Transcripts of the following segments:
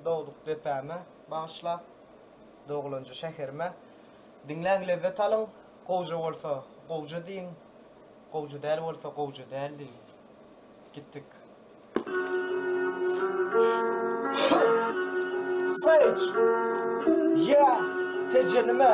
Dogduk depäme bagyşlap Doglanja şäherime Diňläň lezzet alyň Gowja bolsa gowja diýiň Gowja däl bolsa gowja däl diýiň Gitdik Sage Yeah Tejenime.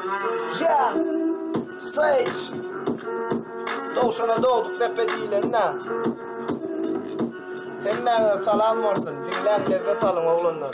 Yeah, Sage. Dogşana dogduk depe diýlenä. Hemmäňe salam bolsun. Diňläň lezzet alyň oglanlar.